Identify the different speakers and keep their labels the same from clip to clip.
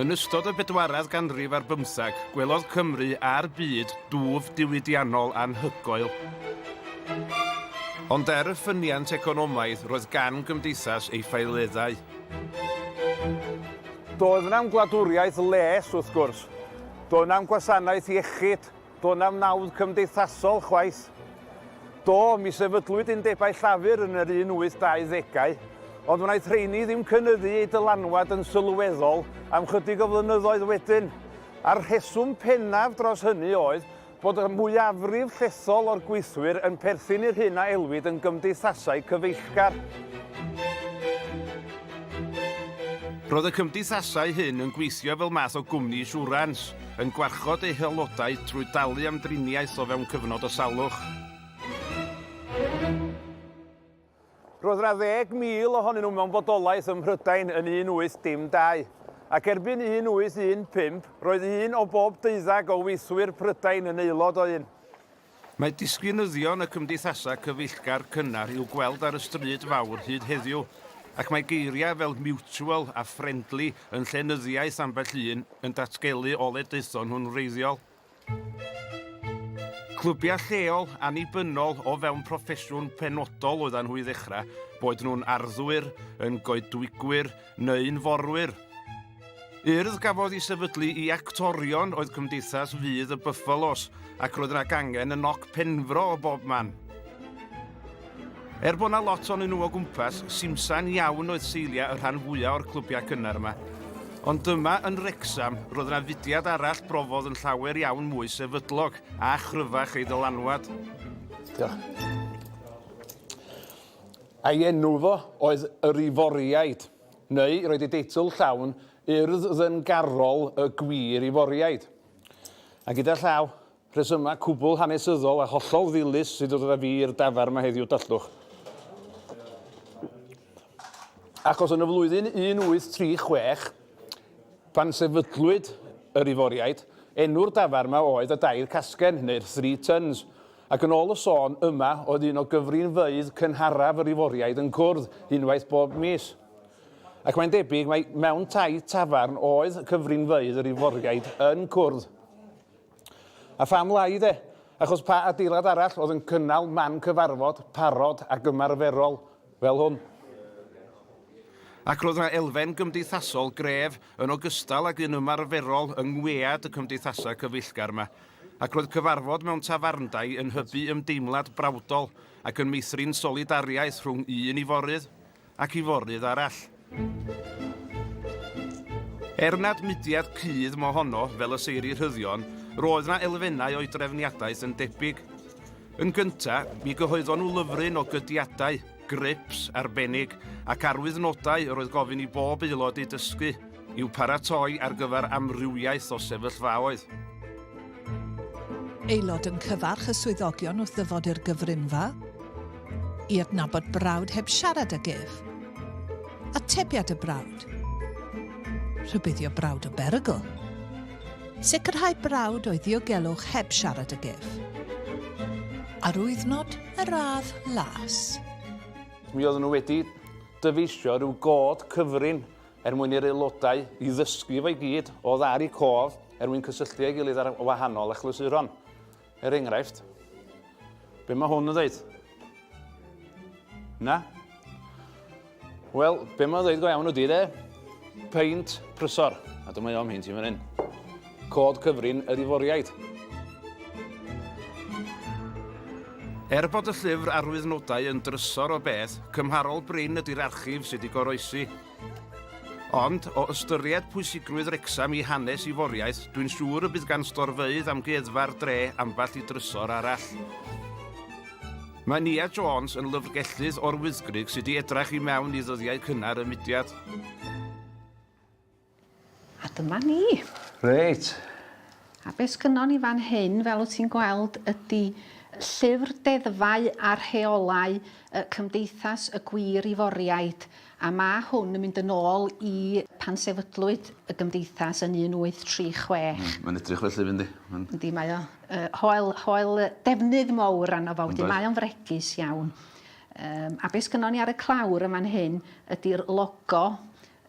Speaker 1: Yn ystod y bedwaredd ganrif ar bymtheg, gwelodd Cymru a'r byd dwf diwydiannol anhygoel. Ond er y ffyniant economaidd, roedd gan gymdeithas ei ffaeleddau.
Speaker 2: Doedd na'm gwladwriaeth les, wrth gwrs. Doedd na'm gwasanaeth iechyd, Do' na'm nawdd cymdeithasol chwaith. Do, mi sefydlwyd undebau llafur yn yr 1820au, ond wnaeth rheini ddim cynyddu eu dylanwad yn sylweddol am chydig o flynyddoedd wedyn, a'r rheswm pennaf dros hynny oedd bod y mwyafrif llethol o'r gweithwyr yn perthyn i'r hyn a elwid yn gymdeithasau cyfeillgar.
Speaker 1: Roedd y cymdeithasau hyn yn gweithio fel math o gwmni siwrans, yn gwarchod ei haelodau trwy dalu am driniaeth o fewn cyfnod o salwch.
Speaker 2: Roedd 60,000 ohonyn nhw mewn bodolaeth ym Mhrydain yn 1812, ac erbyn 1815 roedd un o bob deuddeg o weithwyr Prydain yn aelod o un. Mae
Speaker 1: disgynyddion y cymdeithasau cyfeillgar cynnar i'w gweld ar y stryd fawr hyd heddiw, ac mae geiriau fel 'mutual' a 'friendly' yn llenyddiaeth ambell un yn datgelu ole daethon nhw'n wreiddiol. Clybiau lleol, annibynnol o fewn proffesiwn penodol oeddan nhw i ddechrau, boed nhw'n arddwyr, yn goedwigwyr, neu'n forwyr. Urdd gafodd i sefydlu i actorion oedd Cymdeithas Fydd y Buffalos ac roedd yna gangen yn noc penfro o bob man. Er bod yna lot o'n nhw o gwmpas, simsan iawn oedd seiliau y rhan fwyaf o'r clybiau cynnar yma. Ond dyma yn Rexham, roedd yna fudiad arall brofodd yn llawer iawn mwy sefydlog a chryfach ei ddylanwad. Diolch.
Speaker 2: Ei enw fo oedd yr Iforiaid, neu roedd ei deitl llawn Urdd Ddyngarol y Gwir Iforiaid. A gyda llaw, rhesymau cwbl hanesyddol a hollol ddilys sydd ddod â fi i'r dafarn yma heddiw, dallwch. Achos yn y flwyddyn 1836, pan sefydlwyd yr Iforiaid, enw'r dafarn yma oedd y Dair Casgen, neu'r Three Tuns. Ac yn ôl y sôn, yma oedd un o gyfrinfeydd cynharaf yr Iforiaid yn cwrdd unwaith bob mis. Ac mae'n debyg mai mewn taith tafarn oedd cyfrinfeydd yr Iforiaid yn cwrdd. A pham lai de? Achos pa adeilad arall oedd yn cynnal man cyfarfod parod ac ymarferol fel hwn.
Speaker 1: Ac roedd yna elfen gymdeithasol gref yn ogystal ag un ymarferol yng ngwead y cymdeithasau cyfeillgar yma, ac roedd cyfarfod mewn tafarndai yn hybu ymdeimlad brawdol ac yn meithrin solidariaeth rhwng un iforydd ac iforydd arall. Er nad mudiad cudd mo honno fel y seiri rhyddion, roedd na elfennau o'i drefniadaeth yn debyg. Yn gynta, mi gyhoeddon nhw lyfryn o gydiadau, grips, arbennig, ac arwyddnodau yr oedd gofyn i bob aelod eu dysgu, i'w paratoi ar gyfer amrywiaeth o sefyllfaoedd.
Speaker 3: Aelod yn cyfarch y swyddogion wrth ddyfod i'r gyfrinfa i adnabod brawd heb siarad ag ef. Atebiad y brawd. Rhybuddio brawd o berygl. Sicrhau brawd o'i ddiogelwch heb siarad ag ef. Arwyddnod y radd las. Mi
Speaker 2: oedden nhw wedi dyfeisio rhyw god cyfrin er mwyn i'r aelodau i ddysgu efo'i gyd, o ddar i cof, er mwyn cysylltu â'i gilydd ar wahanol achlysuron. Er enghraifft, be mae hwn yn dweud? Na? Wel, be mae'n dweud go iawn ydy de? Peint prysor. A dyma i o'm hyn ti fan hyn. Cod cyfrin yr Iforiaid.
Speaker 1: Er bod y llyfr arwydd nodau yn drysor o beth, cymharol brin ydy'r archif sydd wedi goroesi. Ond, o ystyried pwysigrwydd Wrecsam i hanes Iforiaeth, dwi'n siŵr y bydd gan Storfeydd Amgueddfa'r Dre ambell i drysor arall. Mae Nia Jones yn lyfrgellydd o'r Wyddgrug sydd wedi edrach i mewn i ddyddiau cynnar y mudiad.
Speaker 2: A dyma ni.
Speaker 4: Reit. A be' sgynnon ni fan hyn fel wt ti'n gweld ydi llyfr deddfau a rheolau yy Cymdeithas y Gwŷr Iforiaid a ma' hwn yn mynd yn ôl i pan sefydlwyd y gymdeithas yn 1836. Hmm mae'n edrych felly
Speaker 2: fyn di. Ma'n... Yndi mae o yy
Speaker 4: hoel hoel yy defnydd mowr arno fo wedyn mae o'n fregus iawn. Yym a be' sgynnon ni ar y clawr yn fan hyn ydi'r logo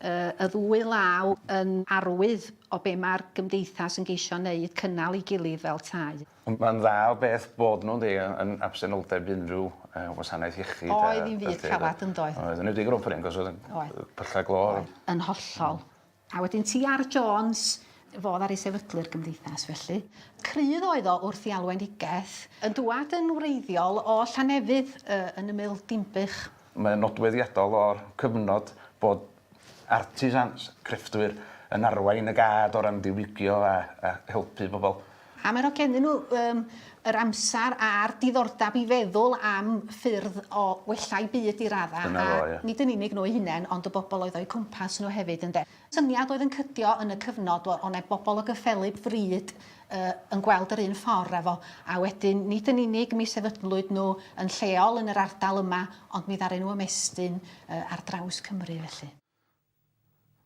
Speaker 4: Y ddwy law yn arwydd o be mae'r gymdeithas yn geisio wneud, cynnal ei gilydd fel tai. Ond mae'n dda o
Speaker 2: beth bod nhw, ynde, yn absenoldeb unrhyw wasanaeth iechyd a... Oedd hi'n fyd calad,
Speaker 4: yn doedd? Oedd, yn enwedig yr offeryn, achos oedd
Speaker 2: yn pyllau glo. Oedd, yn hollol.
Speaker 4: A wedyn ti a'r Jones, fo ddaru sefydlu'r gymdeithas, felly. Crydd oedd o wrth i Alwyn Hughes, yn dŵad yn wreiddiol o Llanefydd, yn ymyl Dinbych. Mae'n nodweddiadol
Speaker 2: o'r cyfnod bod artisans, crefftwyr, yn arwain y gad o ran diwygio a helpu pobl. A mae yno gennyn
Speaker 4: nhw yr amser a'r diddordeb i feddwl am ffyrdd o wella'u byd i raddau, a nid yn unig nhw eu hunain ond y bobl oedd o'u cwmpas nhw hefyd, ynde. Syniad oedd yn cydio yn y cyfnod o ne bobl o gyffelyb fryd yy yn gweld yr un ffor a fo a wedyn nid yn unig mi sefydlwyd nhw yn lleol yn yr ardal yma ond mi ddaru nhw ymestyn yy ar draws Cymru felly.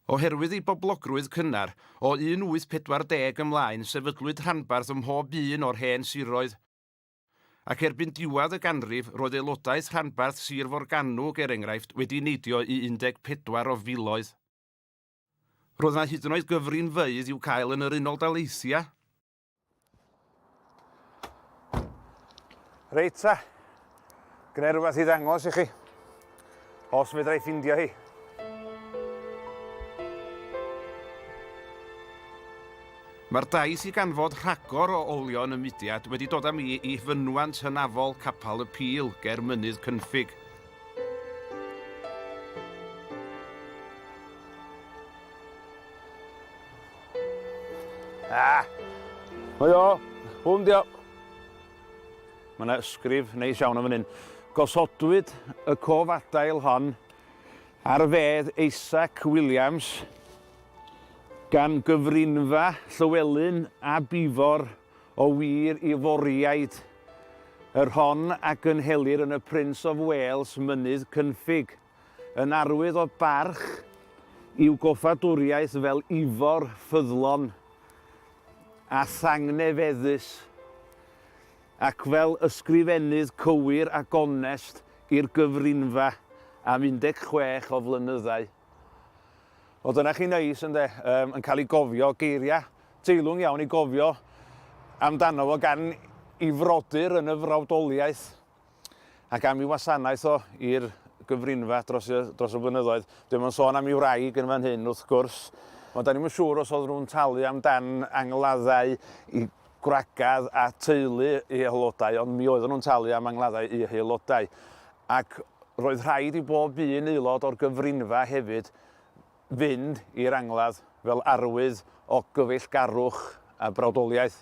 Speaker 1: Oherwydd ei boblogrwydd cynnar, o 1840 ymlaen sefydlwyd rhanbarth ym mhob un o'r hen siroedd, Ac erbyn diwedd y ganrif, roedd aelodaeth rhanbarth Sir Forgannwg, er enghraifft, wedi neidio i 14 o filoedd. Roedd yna hyd yn oed gyfrinfeydd i'w cael yn yr Unol Daleithiau.
Speaker 2: Reit ta, gwneu rhywbeth i ddangos i chi. Os fedra i ffindio hi.
Speaker 1: Mae'r daith i ganfod rhagor o olion y mudiad wedi dod â mi i fynwant hynafol Capal y Pil ger Mynydd Cynffig.
Speaker 2: Ah! Mae o! Hwn dio! Mae yna ysgrif neis iawn yn fan hyn. Gosodwyd y cof adael hon ar fedd Isaac Williams gan gyfrinfa Llywelyn ab Ifor o wir i Foriaid yr hon a gynhelir yn y Prince of Wales, Mynydd Cynffig. Yn arwydd o barch i'w goffadwriaeth fel Ifor ffyddlon a thangnefeddus, ac fel ysgrifennydd cywir a gonest i'r gyfrinfa am 16 o flynyddau. O, dyna chi neis, ynde, um, yn cael ei gofio, geiriau teilwng iawn i gofio amdano fo gan i frodyr yn y frawdoliaeth. A gaf i wasanaeth o i'r gyfrinfa dros y, dros y blynyddoedd. Dwi'n mynd sôn am i wraig yn fan hyn, wrth gwrs. Ond da ni'n mynd siŵr os oedd nhw'n talu amdan angladdau i gwragedd a teulu i aelodau, ond mi oedden nhw'n talu am angladdau i aelodau. Ac roedd rhaid i bob un aelod o'r gyfrinfa hefyd fynd i'r angladd fel arwydd o gyfeillgarwch a brawdoliaeth.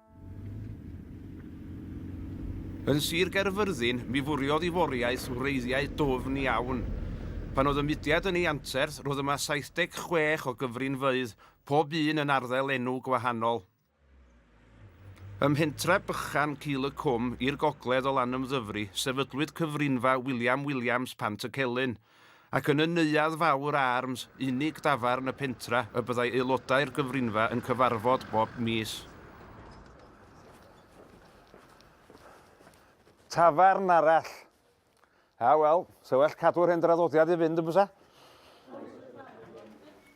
Speaker 1: Yn Sir Gaerfyrddin, mi fwriodd i foriaeth wreiddiau dwfn iawn. Pan oedd y mudiad yn ei anterth, roedd yma 76 o gyfrinfeydd, pob un yn arddel enw gwahanol. Ym mhentref bychan Cul y Cwm, i'r gogledd o Lanymddyfri, sefydlwyd cyfrinfa William Williams Pant-y-celyn, Ac yn y Neuadd Fawr Arms, unig dafarn y pentra, y byddai aelodau'r gyfrinfa yn cyfarfod bob mis.
Speaker 2: Tafarn arall. A wel, sa well cadw'r hen draddodiad i fynd yn bysa?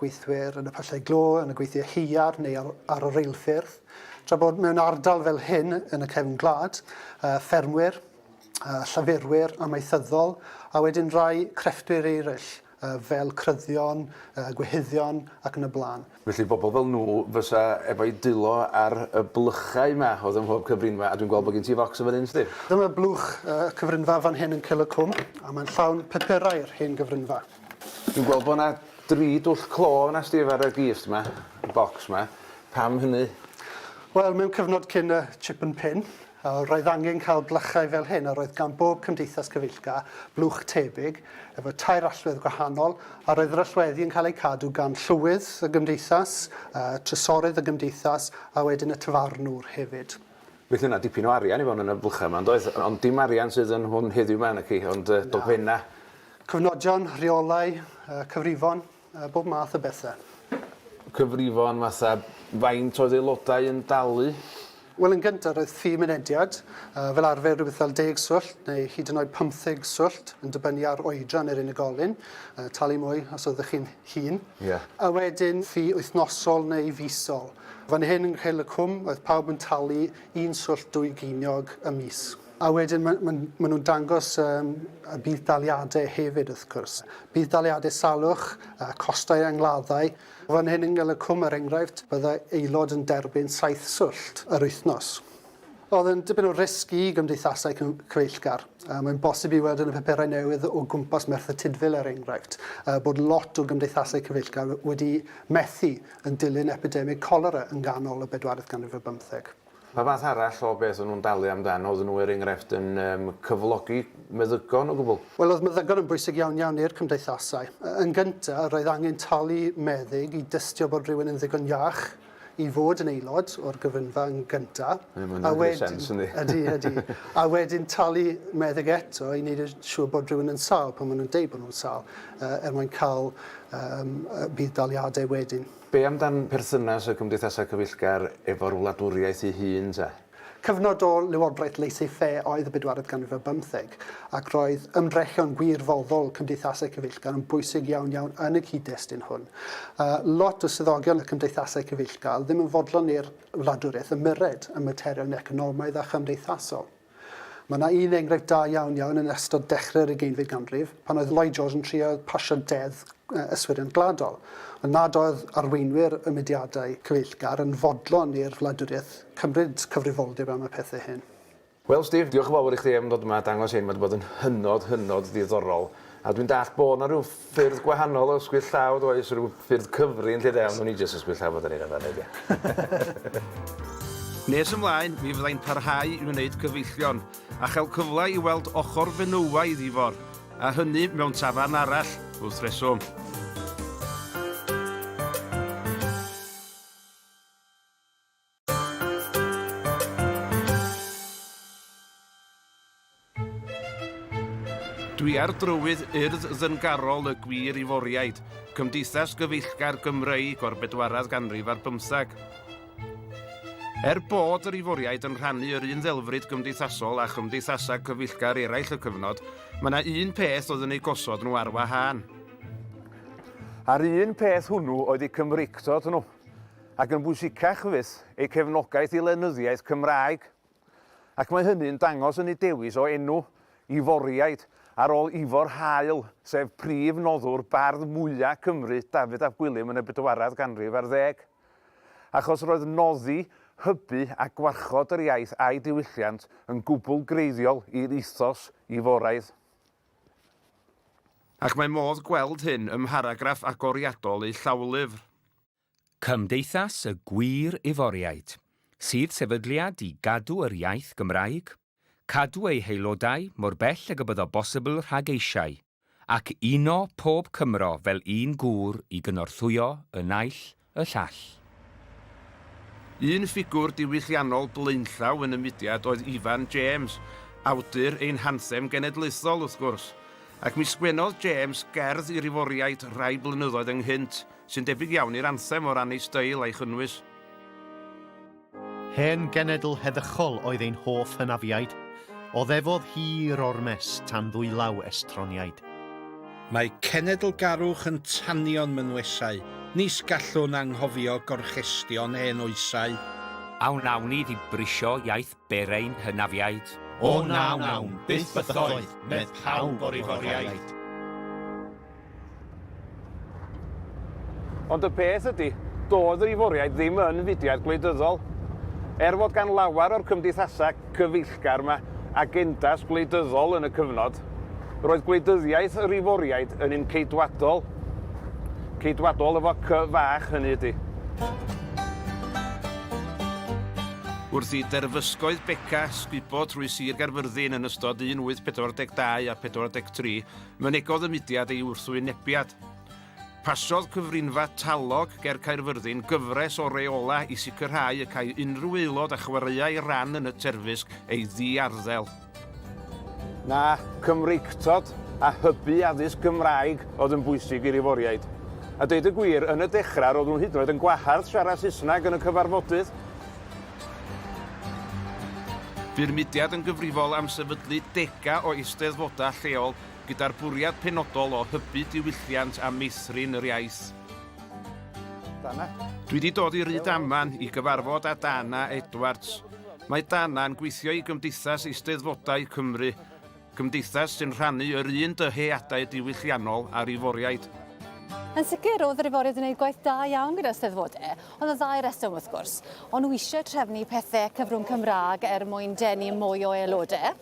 Speaker 5: gweithwyr yn y pyllau glo, yn y gweithiau haearn neu ar, ar y reilffyrdd. Tra bod mewn ardal fel hyn yn y cefn gwlad, uh, ffermwyr, uh, llafurwyr amaethyddol a wedyn rai crefftwyr eraill uh, fel cryddion, uh, gwehyddion ac yn y blaen. Felly bobl fel nhw
Speaker 2: fysa efo'i dwylo ar y blychau yma oedd ym mhob cyfrinfa a dwi'n gweld bod gen ti focs yn fan hyn, Steve. Dyma blwch
Speaker 5: y uh, cyfrinfa fan hyn yn Cil y Cwm a mae'n llawn pupurau'r hen gyfrinfa. Dwi'n gweld bo'
Speaker 2: 'na dri dwll clo yna Steve ar y gist 'ma, y bocs 'ma. Pam hynny? Wel, mewn
Speaker 5: cyfnod cyn y chip and pin, yy, roedd angen cael gwlychau fel hyn a roedd gan bob cymdeithas cyfeillgar blwch tebyg, efo tair allwedd gwahanol, a roedd yr allweddi yn cael eu cadw gan llywydd y gymdeithas, yy, trysorydd y gymdeithas, a wedyn y tafarnwr hefyd. Felly o' 'na dipyn
Speaker 2: o arian i fewn yn y blwchau 'ma, yn doedd? Ond dim arian sydd yn hwn heddiw 'ma naci, ond yy dogfenna'. Cyfnodion,
Speaker 5: rheolau, cyfrifon, bob math o bethau. Cyfrifon
Speaker 2: fatha faint oedd aelodau yn dalu? Wel, yn gyntaf,
Speaker 5: roedd ffi mynediad, fel arfer rhywbeth fel deg swllt neu hyd yn oed pymtheg swllt, yn dibynnu ar oedran yr unigolyn, talu mwy os oeddech chi'n hŷn. Ie. A wedyn
Speaker 2: ffi
Speaker 5: wythnosol neu fisol. Fan hyn yng Nghil y Cwm, roedd pawb yn talu un swllt dwy geiniog y mis. A wedyn ma' ma' ma' nhw'n dangos yym y budd-daliadau hefyd wrth gwrs. Budd-daliadau salwch, y costau angladdau. Fan hyn yn Ngelycwm er enghraifft, bydda aelod yn derbyn saith swllt yr wythnos. Oedd yn dipyn o risg i gymdeithasau cyfeillgar. Yy mae'n bosib i weld yn y paperau newydd o gwmpas Merthyr Tudful er enghraifft, yy bod lot o gymdeithasau cyfeillgar wedi methu yn dilyn epidemig colera yng nghanol y bedwaredd ganrif ar bymtheg. Pa fath arall
Speaker 2: o beth o'n nhw'n dalu amdan? Oedden nhw, er enghraifft, yn yym cyflogi meddygon o gwbl? Wel, oedd meddygon yn bwysig iawn iawn i'r cymdeithasau. Yn gynta', roedd angen talu meddyg i dystio bod rhywun yn ddigon iach i fod yn aelod o'r gyfrynfa yn gynta'. Ie, ma' hwnna'n gwneud sens, yndi? Ydy, ydy. A wedyn talu meddyg eto i wneud yn siŵr bod rhywun yn sâl pan ma' nhw'n deud bod nhw'n sâl, yy er mwyn ca'l yym yy budd-daliade wedyn. Be amdan perthynas y cymdeithasau cyfeillgar efo'r wladwriaeth ei hun te? Cyfnod o lywodraeth laissez-faire oedd y bedwaredd ganrif ar bymtheg, ac roedd ymdrechion gwirfoddol cymdeithasau cyfeillgar yn bwysig iawn iawn yn y cyd-destun hwn. Yy, lot o swyddogion y cymdeithasau cyfeillgar ddim yn fodlon i'r wladwriaeth ymyrred ym materion economaidd a chymdeithasol. Mae yna un enghraifft da iawn iawn yn ystod dechrau'r ugeinfed ganrif, pan oedd Lloyd George yn trio pasio deddf yswiriant gwladol, ond nad oedd arweinwyr y mudiadau cyfeillgar yn fodlon i'r wladwriaeth cymryd cyfrifoldeb am y pethau hyn. Wel Steve, diolch yn fawr i chdi am ddod yma a dangos hyn, mae 'di bod yn hynod, hynod ddiddorol, a dwi'n dallt bod 'na ryw ffyrdd gwahanol o ysgwyd llaw does rhyw ffyrdd cyfrin lle de ond wn i jyst ysgwyd llaw fod yn un fan hyn.
Speaker 1: Nes ymlaen mi fyddai'n parhau i wneud cyfeillion a chael cyfle i weld ochr fenywaidd Ifor a hynny mewn tafarn arall wrth reswm. Dwi ar drywydd urdd ddyngarol y gwir Iforiaid, cymdeithas gyfeillgar Gymreig o'r bedwaredd ganrif ar bymtheg. Er bod yr Iforiaid yn rhannu yr un ddelfryd gymdeithasol â chymdeithasau cyfeillgar eraill y cyfnod, mae yna un peth oedd yn eu gosod nhw ar wahân.
Speaker 2: A'r un peth hwnnw oedd eu Cymreictod nhw. ac yn bwysicach fyth, eu cefnogaeth i lenyddiaeth Cymraeg, ac mae hynny'n dangos yn eu dewis o enw, Iforiaid, ar ôl Ifor Hael, sef prif noddwr bardd mwya' Cymru, Dafydd ap Gwilym, yn y bedwaredd ganrif ar ddeg. Achos roedd noddi, hybu a gwarchod yr iaith a'i diwylliant yn gwbl greiddiol i'r ethos Iforaidd.
Speaker 1: Ac mae modd gweld hyn ym mharagraff agoriadol eu llawlyfr.
Speaker 6: Cymdeithas y Gwir Iforiaid, sydd sefydliad i gadw yr iaith Gymraeg, cadw ei haelodau mor bell ag y byddo bosibl rhag eisiau, ac uno pob Cymro fel un gŵr i gynorthwyo y naill y llall.
Speaker 1: Un ffigwr diwylliannol blaenllaw yn y mudiad oedd Ifan James, awdur ein hanthem genedlaethol, wrth gwrs, ac mi sgwennodd James gerdd i'r Iforiaid rai blynyddoedd ynghynt, sy'n debyg iawn i'r anthem o ran ei steil a'i chynnwys.
Speaker 7: Hen genedl heddychol oedd ein hoff hynafiaid, oddefodd hir ormes tan ddwylaw estroniaid. Mae
Speaker 8: cenedlgarwch yn tanio'n mynwesau, nis gallwn anghofio gorchestion hen oesau. A wnawn
Speaker 6: ni ddibrisio iaith Ber ein hynafiaid. O na
Speaker 9: wnawn byth bythoedd, medd pawb o'r Ihoriaid.
Speaker 2: Ond y peth ydy, doedd yr Ihoriaid ddim yn fudiad gwleidyddol. Er fod gan lawer o'r cymdeithasau cyfeillgar yma agendas gwleidyddol yn y cyfnod, roedd gwleidyddiaeth yr Ihoriaid yn un ceidwadol. Ceidwadol efo cy fach, hynny ydy.
Speaker 1: Wrth i derfysgoedd Beca sgubo trwy Sir Gaerfyrddin yn ystod 1842 a 43, mynegodd y mudiad ei wrthwynebiad. Pasiodd cyfrinfa Talog ger Caerfyrddin gyfres o reolau i sicrhau y cai unrhyw aelod a chwaraeai ran yn y terfysg ei ddiarddel.
Speaker 2: Na, Cymreictod a hybu addysg Gymraeg oedd yn bwysig i'r Iforïaid. A deud y gwir, yn y dechrau roedd nhw hyd yn oed yn gwahardd siarad Saesneg yn y cyfarfodydd.
Speaker 1: Bu'r mudiad yn gyfrifol am sefydlu degau o eisteddfodau lleol gyda'r bwriad penodol o hybu diwylliant a meithrin yr iaith.
Speaker 2: Dana. Dwi 'di
Speaker 1: dod i Rydaman i gyfarfod â Dana Edwards. Mae Dana yn gweithio i Gymdeithas Eisteddfodau Cymru, cymdeithas sy'n rhannu yr un dyheadau diwylliannol â'r Iforiaid. Yn sicr,
Speaker 10: oedd yr Iforiaid yn gwneud gwaith da iawn gyda'r Steddfodau, ond y ddau reswm wrth gwrs. O'n nhw eisiau trefnu pethau cyfrwng Cymraeg er mwyn denu mwy o aelodau,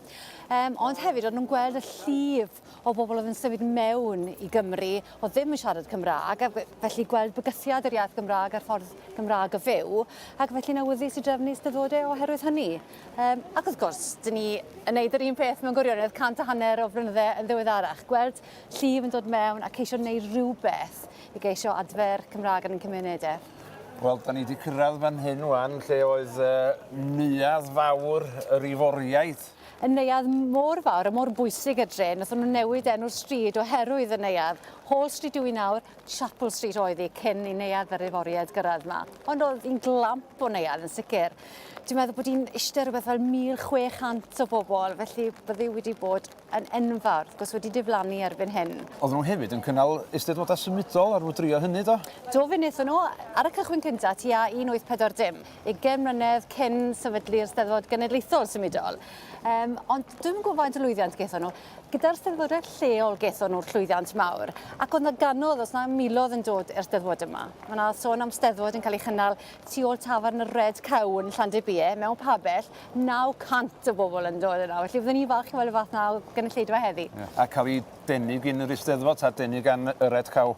Speaker 10: ond hefyd o'n nhw'n gweld y llif lot o bobl oedd yn symud mewn i Gymru oedd ddim yn siarad Cymraeg ac felly gweld bygythiad yr iaith Gymraeg a'r ffordd Gymraeg o fyw ac felly'n awyddus i drefnu ystadodau oherwydd hynny. Um, ac wrth gwrs, dyn ni yn neud yr un peth mewn gwirionedd cant a hanner o flynyddau yn ddiweddarach. Gweld llif yn dod mewn a ceisio wneud rhywbeth i geisio adfer Cymraeg yn ein cymunedau. Wel, da ni wedi
Speaker 2: cyrraedd fan hyn wan, lle oedd uh, neuadd fawr yr iforiaid y neuadd
Speaker 10: mor fawr a mor bwysig y dre. Nathon nhw newid enw'r stryd oherwydd y neuadd. Hall Street yw i nawr, Chapel Street oedd hi cyn i neuadd yr Iforiaid gyrraedd yma. Ond oedd hi'n glamp o neuadd yn sicr. Dwi'n meddwl bod hi'n eistedd rhywbeth fel 1,600 o bobl, felly byddi wedi bod yn enfawr, wrth gwrs wedi diflannu erbyn hyn. Oedden nhw hefyd yn cynnal
Speaker 2: eisteddfodau symudol ar fwdrio hynny, do? Do, fe wnaethon nhw,
Speaker 10: ar y cychwyn cyntaf, tua 1840. ugain mlynedd cyn sefydlu'r Steddfod Genedlaethol Symudol. Um, ond dwi'n gwybod faint o lwyddiant gaethon nhw. Gyda'r Steddfodau lleol gaethon nhw'r llwyddiant mawr. Ac oedd na ganodd, os na milodd yn dod i'r Steddfod yma. Mae yna sôn am Steddfod yn cael ei chynnal tu ôl tafarn y Red Cow yn Llandybie, mewn pabell, 900 o bobl yn dod yna. Felly byddwn ni'n falch i weld y fath na o gynulleidfa heddi. Yeah. A cael ei
Speaker 2: denu gyn yr Eisteddfod, ta denu gan y Red Cow?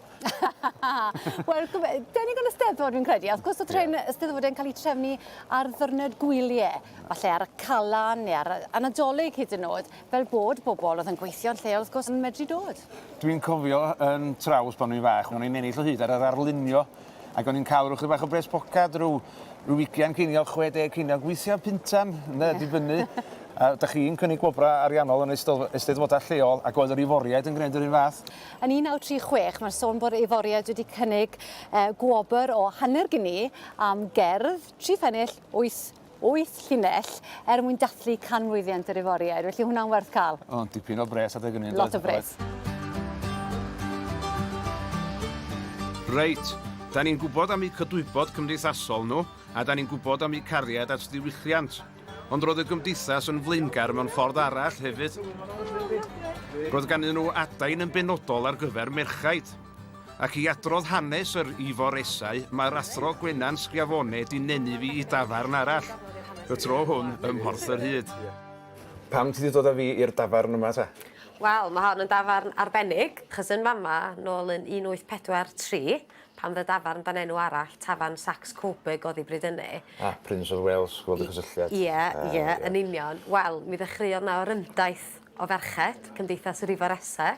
Speaker 10: Wel, denig yn y steddfod fi'n credu, a wrth gwrs y tren yeah. steddfod yn cael ei trefnu ar ddyrnod gwyliau, falle ar y calan neu ar y nadolig hyd yn oed, fel bod bobl oedd yn gweithio'n lleol wrth gwrs yn medru dod. Dwi'n cofio
Speaker 2: yn traws pan o'n fach, o'n i'n ennill o hyd ar yr arlunio, ac o'n i'n cael rhywbeth bach o bres pocad, rhyw, rhyw wigian ceiniog, 60 ceiniog, weithiau pintan, ne, dibynnu. A da chi'n cynnig gwobrau ariannol yn eisteddfodau lleol ac oedd yr iforiaid yn gwneud yr un fath? Yn 1936,
Speaker 10: mae'r sôn bod Iforiaid wedi cynnig e, gwobr o hanner gini am gerdd, tri phennill, wyth, wyth llinell, er mwyn dathlu canmlwyddiant yr Iforiaid. Felly hwnna'n werth cael. O, dipyn o bres adeg
Speaker 2: hynny. Lot o bres.
Speaker 1: Reit, da ni'n gwybod am eu cydwybod cymdeithasol nhw, a da ni'n gwybod am eu cariad at ddiwylliant. Ond roedd y Gymdeithas yn flaengar mewn ffordd arall hefyd. Roedd ganddyn nhw adain yn benodol ar gyfer merchaid. Ac i adrodd hanes yr Ifor Esau, mae'r athro Gwenan Schiavone di nenu fi i dafarn arall, y tro hwn ym Mhorth yr Hyd. Pam ti
Speaker 2: di dod â fi i'r dafarn yma ta? Wel, mae hon yn
Speaker 11: dafarn arbennig, achos yn fama, nôl yn 1843, Pan fydde dafarn dan enw arall, Tafarn Saxe Coburg oddi bryd hynny. A, Prince of Wales,
Speaker 2: gweld y cysylltiad. Ie, ie, yn
Speaker 11: union. Wel, mi ddechreuodd 'na orymdaith o ferched, Cymdeithas yr Ifor Esse.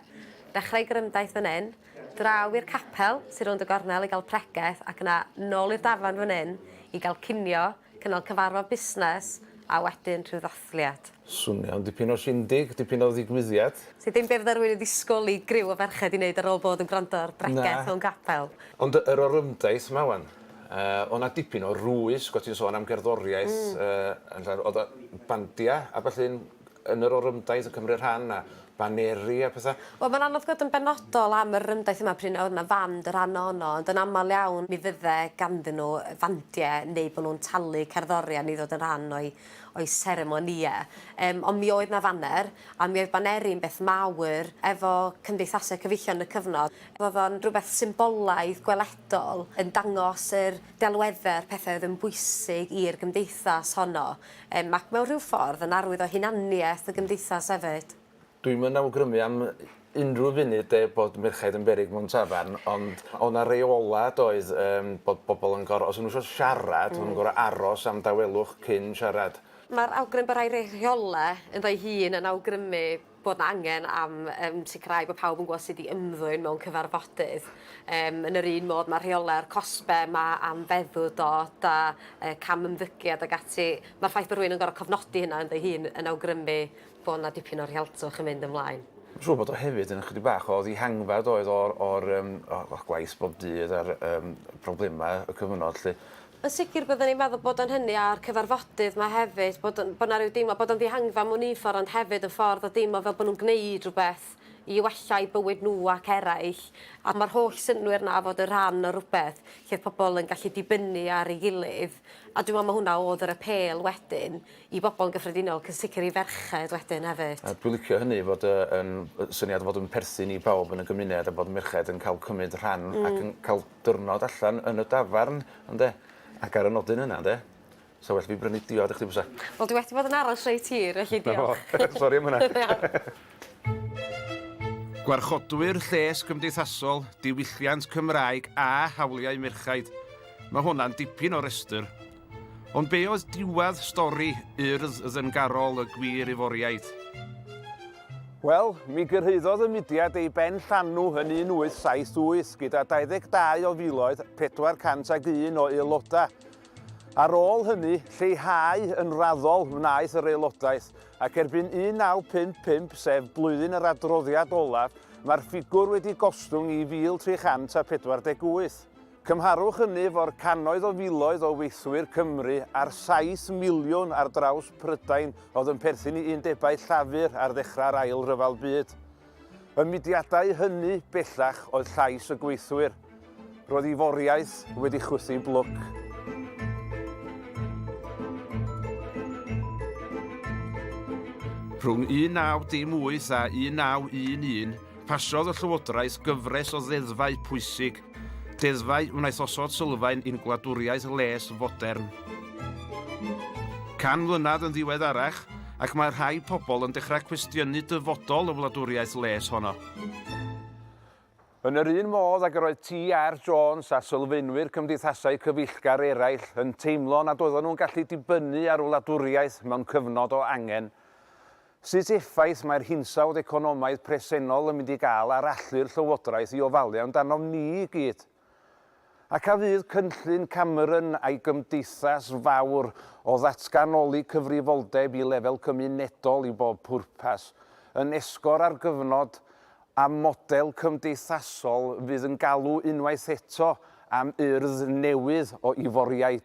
Speaker 11: Dechrau gorymdaith fan 'yn, draw i'r capel sy rownd y gornel i gael pregeth, ac yna nôl i'r dafarn fan 'yn i gael cinio, Cynnal cyfarfod busnes a wedyn rhyw ddathliad. Swnio'n dipyn o
Speaker 2: shindig, dipyn o ddigwyddiad. Sy ddim be fydda rhywun
Speaker 11: yn ddisgwyl i griw o ferched i neud ar ôl bod yn gwrando ar bregeth mewn capel. Ond yr
Speaker 2: orymdaith 'ma wan. O' 'na dipyn o rwys, 'sgot ti'n sôn am gerddoriaeth, yy yn lle o'dd y bandia a ballu'n yn
Speaker 12: yr orymdaith yn cymryd rhan a baneri a petha. Wel mae'n anodd gwbod yn
Speaker 11: benodol am yr orymdaith yma pryn a oedd yna fand y rhan o ono ond yn aml iawn mi fydde ganddyn nhw fandie neu bod nhw'n talu cerddorion i ddod yn rhan o'u o'u seremonie yym ond mi oedd yna faner a mi oedd baneri'n beth mawr efo cymdeithasau cyfeillion yn y cyfnod oedd o'n rhywbeth symbolaidd gweledol yn dangos yr delwedde a'r pethau oedd yn bwysig i'r gymdeithas honno. Yym, ac mewn rhyw ffordd, yn arwydd o hunaniaeth y gymdeithas hefyd. Dwi'm yn awgrymu
Speaker 12: am unrhyw funud de bod merchaid yn beryg mewn tafarn, ond o' 'na reola' doedd yym bod bobl yn goro-, os o'n nhw isio siarad o'n nhw'n gor'o' aros am dawelwch cyn siarad. Ma'r awgrym bo' rhai rheola' ynddo'i hun yn awgrymu bod 'na angen am yym sicrhau bod pawb yn gwybod sut i ymddwyn mewn cyfarfodydd. Yym yn yr un modd mae rheolau'r cosbe yma am feddw dod a yy cam ymddygiad ag ati. Mae'r ffaith bod rhywun yn gorfod cofnodi hynna ynddo ei hun yn awgrymu bod 'na dipyn o rhealtwch yn mynd ymlaen. Dwi'n siŵr bod o hefyd yn ychydig bach o ddihangfa doedd o'r o'r yym o- o'r gwaith bob dydd a'r yym problemau y cyfnod 'lly. Yn sicr byddwn i'n meddwl bod o'n hynny a'r cyfarfodydd 'ma hefyd, bod yn, bod 'na ryw deimlo bod o'n ddihangfa mewn un ffordd ond hefyd yn ffordd o deimlo fel bod nhw'n gwneud rhywbeth i wella eu bywyd nhw ac eraill a ma'r holl synnwyr 'na o fod yn rhan o rywbeth lle oedd pobl yn gallu dibynnu ar ei gilydd a dwi'n meddwl ma' hwnna oedd yr apêl wedyn i bobl yn gyffredinol ac yn sicr i ferched wedyn hefyd. A dwi'n licio hynny fod yy yn yy syniad o fod yn perthyn i bawb yn y gymuned a bod merched yn cael cymryd rhan ac yn cael diwrnod allan yn y dafarn, ynde? Ac ar y nodyn yna, ynde? 'Sa well fi brynu diod i chdi bysa? Wel dwi wedi bod yn aros reit hir, felly diolch. 'Na fo. Sori am hwnna. Da iawn.
Speaker 1: Gwarchodwyr Lles Cymdeithasol, Diwylliant Cymraeg a Hawliau Merchaid. Mae hwnna'n dipyn o restr. Ond be oedd diwedd stori Urdd Ddyngarol y Gwir Iforiaid?
Speaker 2: Wel, mi gyrhaeddodd y mudiad ei ben llanw yn 1878 gyda 22 o filoedd 401 o aelodau. Ar ôl hynny, lleihau yn raddol wnaeth yr aelodaeth, ac erbyn 1955, sef blwyddyn yr adroddiad olaf, mae'r ffigwr wedi gostwng i 1,348. Cymharwch hynny efo'r cannoedd o filoedd o weithwyr Cymru a'r saith miliwn ar draws Prydain oedd yn perthyn i undebau Llafur ar ddechrau'r Ail Ryfel Byd. Y mudiadau hynny bellach oedd llais y gweithwyr. Roedd ei foriaeth wedi chwythu blwc.
Speaker 1: Rhwng 1918 a 1911, pasiodd y Llywodraeth gyfres o ddeddfau pwysig Deddfau wnaeth osod sylfaen i'n gwladwriaeth les fodern. Can mlynedd yn ddiweddarach, ac mae rhai pobl yn dechrau cwestiynu dyfodol y wladwriaeth les honno. Yn
Speaker 2: yr un modd ag yr oedd TR Jones a sylfaenwyr cymdeithasau cyfeillgar eraill yn teimlo nad oedden nhw'n gallu dibynnu ar wladwriaeth mewn cyfnod o angen, Sut effaith mae'r hinsawdd economaidd presennol yn mynd i gael ar allu'r Llywodraeth i ofalu amdanom ni i gyd? Ac a fydd cynllun Cameron a'i gymdeithas fawr o ddatganoli cyfrifoldeb i lefel cymunedol i bob pwrpas yn esgor ar gyfnod a model cymdeithasol fydd yn galw unwaith eto am urdd newydd o Iforiaid?